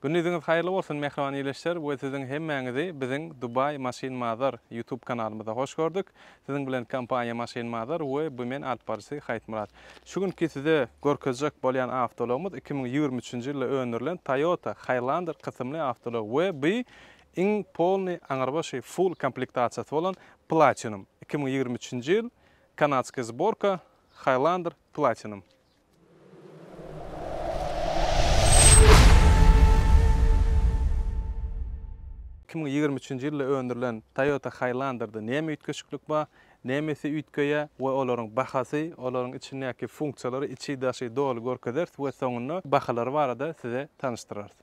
Gündiziňiz haýyrly bolsun mähriban ildeşler we siziň hemmäňizi biziň Dubai Machine Mother YouTube kanalymyzda hoş gördük. Siziň bilen kompaniýa Machine Mother we BMN alyp baryjysy Haýtmyrat. Şu günki size görkezjek bolýan awtoulagymyz iki müň ýigrimi üçünji ýylda öndürilen Toyota Highlander kysymly awtoulag we bu Iň polny, aňrybaşy, full komplektasiýasy bolan Platinum, iki müň ýigrimi üçünji ýyl, kanadskiý zborka, Highlander Platinum. Iki müň ýigrimi üçünji ýylda öndürilen Toyota Highlander-da näme üýtgeşiklik bar, nämesi üýtgeýä we olaryň bahasy, olaryň içindäki funksiýalary içi-daşy doly görkezeris we soňunda bahalary barada size tanyşdyrarys.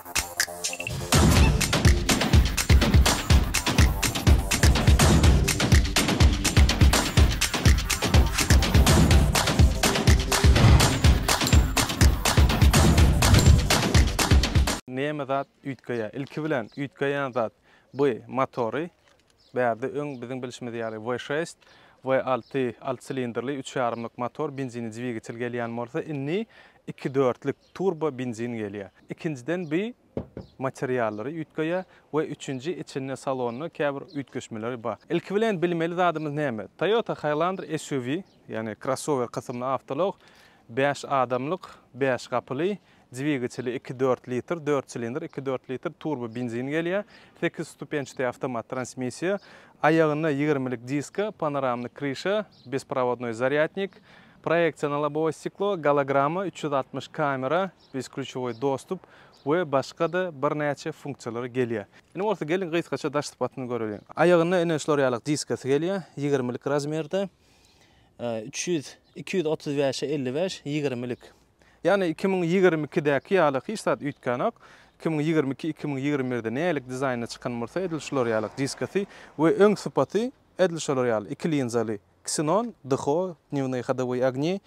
Näme zat üýtgeýär? Ilki bilen üýtgeýän zat bu motory. Bärde öň biziň bilşimiz ýaly V6, V6 alty silindrli üç ýarymlyk motor, benzini dwigitel gelýän bolsa, indi iki dörtlük turbo benzin gelýär. Ikinjiden bi materiallary üýtgeýär we üçünji içinde salonda käbir üýtgeşmeleri bar. Ilki bilen bilmeli zadymyz näme? Toyota Highlander SUV, ýagny krossower kysymly awtoulag, bäş adamlyk, bäş gapyly, dwigateli iki dört litr, dört silindr iki dört litr turbo benzin gelýär, sekiz stupençdi awtomat transmissiýa, aýagynda ýigirmilik diska, panoramny kryşa, besprovodnoý zarýadnik, Proýeksional lobowe stiklo, gologramma, üç ýüz altmyş kamera, besklýuçowy dostup we başga-da birnäçe funksiýalary gelýär. Indi bolsa geliň gysgaça daş sypatyny göreliň. Aýagynda ine şular ýaly diskasy gelýär, ýigirmilik razmerde. Üç ýüz, iki ýüz otuz bäşe elli bäş, ýigirmilik. Ýagny iki müň ýigrimi ikidäki ýaly hiç zat üýtgänok. Iki müň ýigrimi iki, iki müň ýigrimi birde nälik dizaýnda çykan bolsa edil şular ýaly diskasy we öň sypaty edil şolar ýaly iki linzaly. Ksenon, DHO, Dnewnoý hodowoý ogni,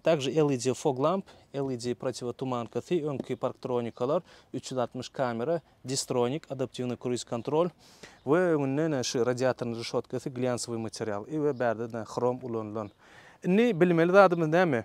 Также LED fog lamp, LED protivotumankasy, öňki parktronikalar, üç ýüz altmyş kamera, Distronic, adaptiwnyý kruiz kontrol, we öňünde ine şu radiatornyň rişotkasy glýansowyý material, i we bärde ine hrom ulanylan. Indi bilmeli zadymyz näme?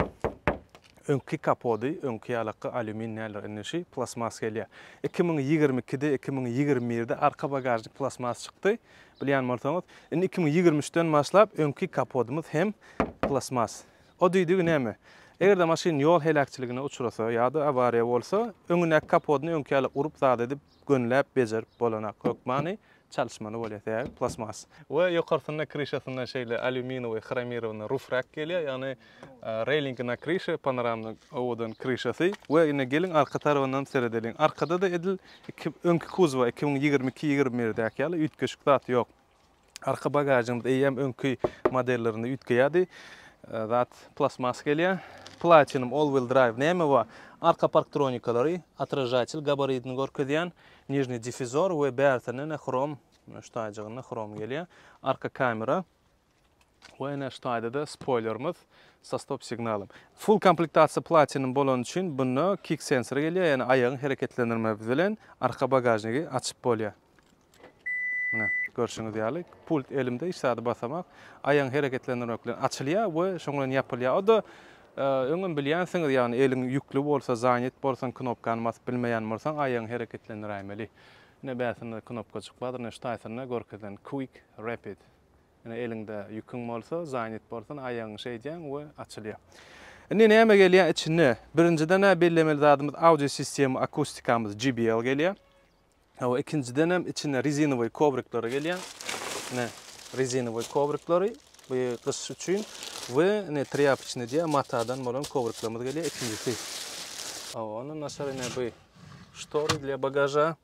Öňki kapody, öňki ýalakka alýumin näler indi şi plastmas gelýär. Iki müň ýigrimi ikide, iki müň ýigrimi birde arka bagažnik plastmas çykdy. Bilýän bolsaňyz, indi iki müň ýigrimi üçden başlap öňki kapodymyz hem plastmas. O düýdügi näme? Eger-de maşyn ýol heläkçiligine uçrasa ýa-da awariýa bolsa, öňündäki kapodyny öňki ýaly urup zat edip, gönläp, bejerip bolanak. Hökmany çalyşmaly bolýar, sebäbi plastmas. We ýokarsynda, kryşasynda şeýle alýuminowy, hromirowany rufrak gelýär, ýagny Railingi na krişe, panoramny owadan krişasy we ine geliň arka tarabyndan seredeliň. Arkada-da edil iki öňki kuzowa iki müň ýigrimi iki ýigrimi birdäki ýaly üýtgeşik zat ýok. Arka bagažymyz eýýäm öňki modellerinde üýtgeýärdi. Zat plastmas gelýär. Platinum all wheel drive näme bar? Arka parktronikalary, otražatel gabaridini görkezýän, nižniý difizor we bärsindenä hrom, ştaýjygynda hrom gelýär. Arka kamera. Bu NH taýda-da spoýlerimiz sa stop signalym. Full komplektasiýa platinum bolany üçin bunda kick sensory gelýär, ýagny aýagyň hereketlendirme bilen arka bagažnigi açyp bolýar. Mine, görşüňiz ýaly, pult elimde hiç zady basamak, aýagyň hereketlendirmek bilen açylýar we şoň bilen ýapylýar. O-da öňem bilýänsiňiz, ýagny eliň ýükli bolsa, zanet bolsaň, knopkany basyp bilmeýän bolsaň, aýagyňy hereketlendiräýmeli. Ine bärsinda knopkajyk bardyr, ine şu taýsyna görkezilen Quick Rapid. Ine, eliňde ýüküň bolsa, zanýet bolsan, aýagyňy şeýdýäň we açylýar. Indi näme gelýär içine? Birinjiden-ä bellemeli zadymyz audio sistema akustikamyz JBL gelýär. Hawa, ikinjidenem içinde rezinowy kowriklary gelýär. Ine, rezinowy kowriklary bu gyş üçin we ine trýapoçny diýýär, matadan bolan kowriklerimiz gelýär ikinjisi. Hawa, ondan daşary ine bu ştory dla bagaža.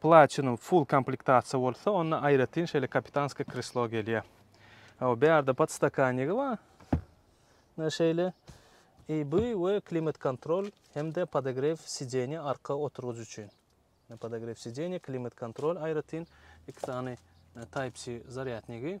Platinum full komplektasiýa bolsa, onda aýratyn şeýle kapitanskiý kreslo gelýär. Hawa, bu ýerde podstakanigi bar. Ine şeýle EB we klimat-kontrol hem-de podogrew sideniýa arka oturgyç üçin. Ine podogrew sideniýa, klimat-kontrol aýratyn, iki sany Type-C zarýadnigi.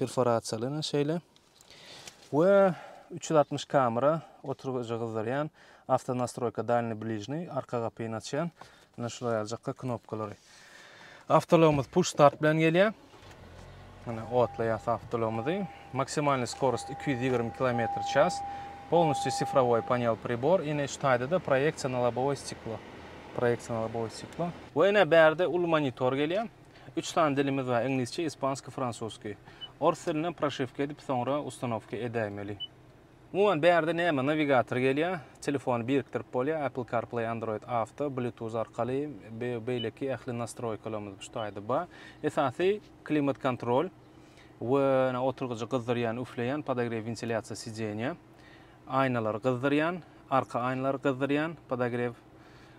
Perforasiýalanan şeýle. We üç ýüz altmyş kamera oturgyjy gyzdyrýan, Avtonastroýka Dalny Bližny, arka gapyny açýan, ine şular ýaly jykka knopkalary. Awtoulagymyz push start bilen gelýär. Ine otlaýas awtoulagymyzy. Maksimalnyý skorost iki ýüz ýigrimi kilometr ças. Polnusty sifrowoý panel pribor, ine şu taýda-da proýeksiýa na lobowoý stiklo. Proýeksiýa na lobowoý stiklo. We ine bärde uly monitor gelýär. Üç sany dilimiz bar, iňlisçe, ispanskiý, fransuskiý. Ors dilinden proşiwka edip, soňra ustanowka edäýmeli. Umuman, bärde näme, nawigator gelýär, telefony birikdirip bolýar, Apple CarPlay, Android Auto, Bluetooth arkaly, beýleki ähli nastroýkalarymyz şu taýda bar. Esasy, klimat kontrol we oturgyjy gyzdyrýan, üfleýän, podograw, wentilýasiýa sidenýa. Aýnalary gyzdyrýan, arka aýnalary gyzdyrýan podogrew.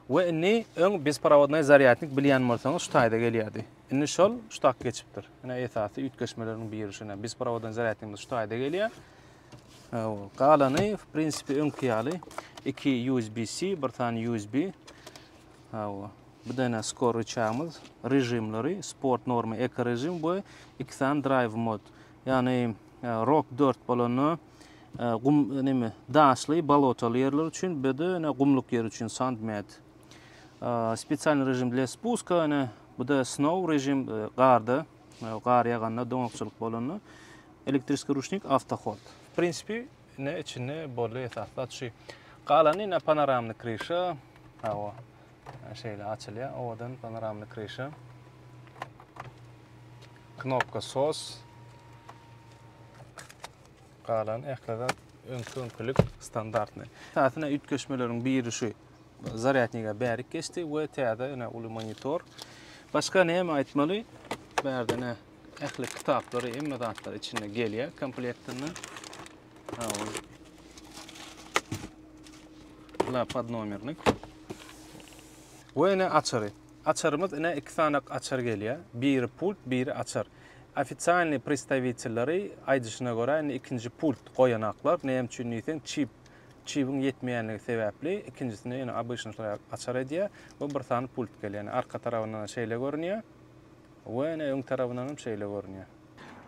We indi öň besprovodnoý zarýadnik bilýän bolsaňyz şu taýda gelýärdi. Indi şol şu tak geçipdir. Ine esasy üýtgeşmeleriň biri şu ine besprovodnoý zarýadnikimiz şu taýda gelýär. Galany w prinsipi öňki ýaly iki USB-C, bir sany USB. Hawa. Bu da ine skor rычagymyz, režimleri, sport norma, eko režim we iki sany drive mod. Ýagny e, rock 4 bolanda Gum, neme, daşly, bolotaly ýerler üçin, bedene gumluk ýer üçin sand med. Spesialny režim dla spuska, ene, bu da snow režim, garda, gar ýaganda, doňakçylyk bolanda. Elektriskiý ruçnik, awtohod. W prinsipi, ne, içinde boldy esasy zat şu. Galany, ene, panoramny kryşa, hawa, şeýle açylýar, owadan panoramny kryşa. Knopka sos. Galan ähli zat öňki öňkülik standartny. Täsine üýtgeşmeleriň biri şu zarýadniga bärik geçdi we täze ene uly monitor. Başga näme aýtmaly? Bärde ne ähli kitaplary, hemme zatlar içinde gelýär komplektinde. La podnomernik. We ene açary. Açarymyz ene iki sany açar gelýär. Biri pult, biri açar. Ofisialnyý pristawitelleri aýdyşyna görä, indi ikinji pult goýanaklar, näme üçin diýseň, çip, çibiň ýetmeýänligi sebäpli, ikinjisini ýöne abyşnyşlar ýaly açar edýär we bir sany pult gelýär. Ýöne arka tarabyndan-da şeýle görünýär we ýöne öň tarabyndan hem şeýle görünýär.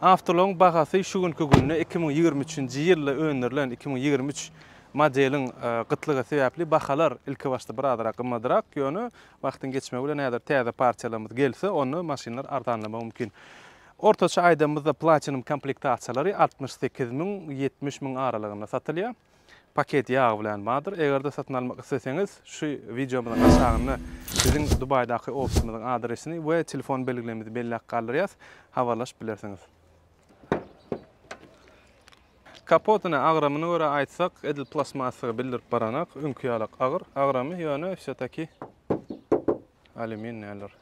Awtoulagyň bahasy şu günki günde iki müň ýigrimi üçünji ýylda öndürilen iki müň ýigrimi üç modeliň gytlygy sebäpli bahalar ilkibaşda birazrak gymmadrak, ýöne Wagtyň geçmegi bilen häzir täze partiýalarymyz gelse, onda maşynlar arzanlamagy mümkin. Ortaça aýdanymyzda Platinum komplektasiýalary altmyş sekiz müň, ýetmiş müň aralygynda satylýar. Paket ýagy bilen bardyr. Eger-de satyn almak isleseňiz, şu wideomyzyň aşagynda biziň Dubaýdaky ofisimiziň adresini we telefon belgilerimizi belläp galdyrýas, habarlaşyp bilersiňiz. Kapotyny, agramyny görä aýtsak, edil plastmassygy bildirip baranok, öňki ýalak agyr, agramy, ýöne wsýotaki alýumin näler.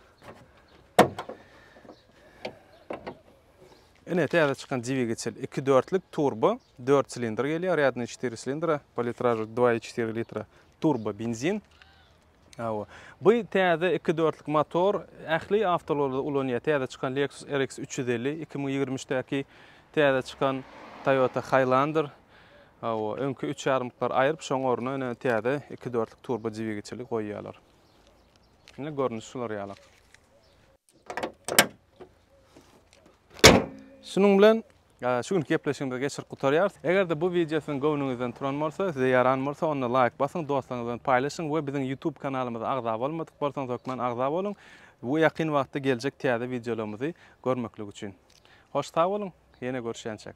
Ine, täze çykan dwigatel, iki dörtlük turbo, dört silindr gelýär, rýadnyý çetiri silindra, po litražy dwa i çetiri litra turbo benzin. Hawa. Bu täze iki dörtlük motor ähli awtoularda ulanýar. Täze çykan Lexus RX üç ýüz elli, iki müň ýigrimi üçdäki täze çykan Toyota Highlander. Hawa, öňki üç ýarymlyklary aýryp, şoň ornuna ine täze iki dörtlük turbo dwigiçeli goýýarlar. Ine görnüşi şular ýalak. Şunuň bilen Şu günki gepleşigimizi geçirip gutarýarys. Eger-de bu wideo siziň göwnüňizden turan bolsa, size ýaran bolsa, onda laýk basyň, dostlaryňyz bilen paýlaşyň we biziň YouTube kanalymyza agza bolmadyk bolsaňyz hökman agza boluň. Bu ýakyn wagtda geljek täze wideolarymyzy görmeklik üçin. Hoş sag boluň, ýene görüşýänçäk.